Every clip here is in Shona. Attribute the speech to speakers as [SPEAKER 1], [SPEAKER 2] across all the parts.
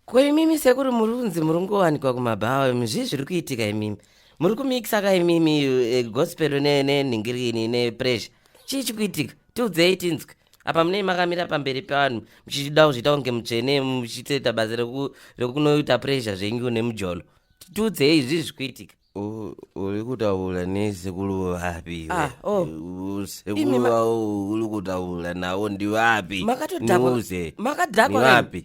[SPEAKER 1] Ko imimi sekuru muri kunzi muri kungowanikwa kumabhawa imi zvii zviri kuitika imimi muri kumikisa ka imimi eh, gospel ne- nenhingirini nepressure chii chikuitika tiudzei tinzwe apa munei makamira pamberi pevanhu muchidawo zviita kunge mutsvene muchitoita basa reku- rekunoita pressure zvenyu nemujolo tiudzei zvii zvikuitika U- uri
[SPEAKER 2] kutaura nesekuru vapi Ah,
[SPEAKER 1] oh. Imi ma- sekuru vao uri
[SPEAKER 2] kutaura navo ndivapi makatodhakwa Niuze.
[SPEAKER 1] makadhakwa Nivapi?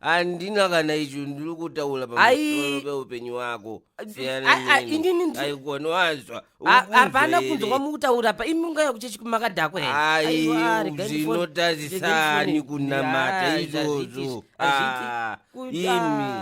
[SPEAKER 1] handina
[SPEAKER 2] kana icho ndiri kutaura pamusoro peupenyu wako siyanaaikona wanzwa hapana kunzwa
[SPEAKER 1] kwamukutaura pa imi unga yakuchechi kumakadhakwa hereaizvinotarisani
[SPEAKER 2] kunamata izvozvo ah, imi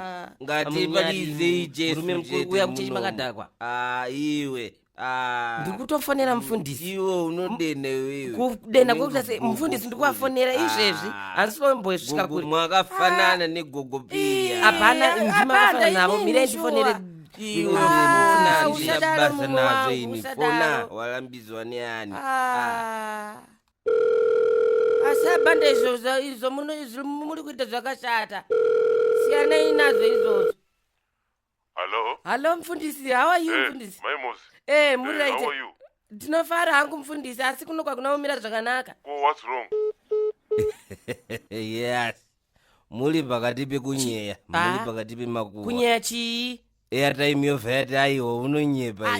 [SPEAKER 2] ngatipalizeicesmkuru yakuchechi
[SPEAKER 1] makadhakwa ah, iwe
[SPEAKER 2] Ah, ndiri
[SPEAKER 1] kutofonera mufundisi iwo unodena
[SPEAKER 2] iwewe kudena kwekuita sei
[SPEAKER 1] mufundisi ndiri kuvafonera izvezvi handisi vambosvika kuri mwakafanana
[SPEAKER 2] negogo piya hapana Eh, ndima hapana,
[SPEAKER 1] vafana navo inini mirei shuwa. ndifonere iwe Ah, ndinofona usadaro
[SPEAKER 2] ndina basa munhu nazvo wangu, ini fona usadaro. walambidzwa neani
[SPEAKER 1] Ah. asi abanda izvo zva- izvo muno- izvo muri kuita zvakashata siyanai nazvo izvozvo Hello. Hello mfundisi, how are you hey, eh, mfundisi? Mai Mozi. Eh, hey, muri right. How are you?
[SPEAKER 3] Ndinofara hangu
[SPEAKER 1] mfundisi, asi kuno kwakuna kumira zvakanaka. Ko what's wrong?
[SPEAKER 2] yes. Muri pakati pekunyeya, muri ah. pakati pemakuva. Kunyeya chii?
[SPEAKER 1] airtime yovhati
[SPEAKER 2] aiwo unonyepa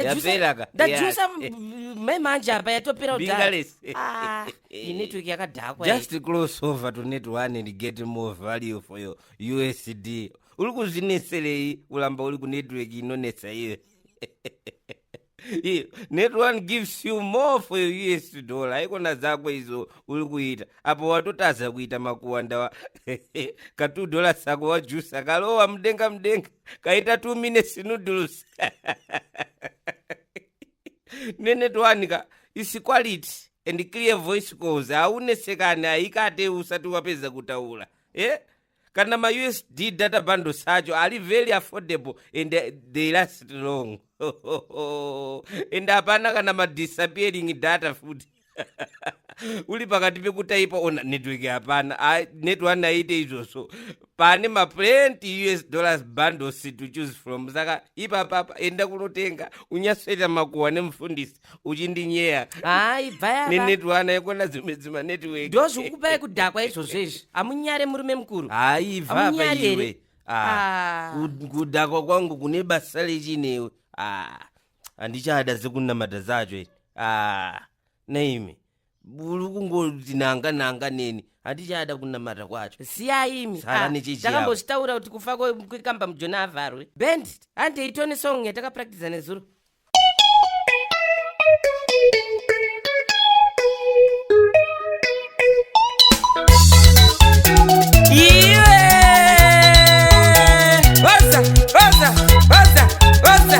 [SPEAKER 2] yapelaka ndajusa
[SPEAKER 1] mai manje apa yatopera kudhara network yakadhakwa just close over
[SPEAKER 2] to net one and get more value for your usd uri kuzvineserei kuramba uri kunetwork inonetsa iwe Iyo, net one gives you more for your us dollar haikona dzako izo uri kuita apo watotadza kuita makuwandawa ka two dollars ako wajusa kalowa mudenga mudenga kaita two minutes noodles nenet one ka is quality and clear voice calls haunesekani haikate usati wapedza kutaura eh? kana mausd data bundles acho ari very affordable and eh, they last long and hapana kana madisappearing data futi uli pakati pekutaipa ona network hapana Ah, netone aite izvozvo pane maplenty us dollars bundles to choose from saka ipapapa enda kunotenga unyasweta makuhwa nemufundisi uchindinyeya hayi
[SPEAKER 1] bvayanenetwana yekona
[SPEAKER 2] dzimwe dzima network ndo zvikukupai kudhakwa
[SPEAKER 1] izvozvo izvi hamunyare murume mukuru hayi vapaiwe
[SPEAKER 2] ah, ah. kudhakwa kwangu kune basa lechinewe ah, handichada sekunamata zacho naimi uri kungoti nanga nanga neni handichada kunamata kwacho siyaimi Sara Ah,
[SPEAKER 1] nechechi yako. takambozvitaura kuti kufa kwe- kwekamba mujona avharwe band handei tone song yatakapractiza nezuro iwe oza oza oza oza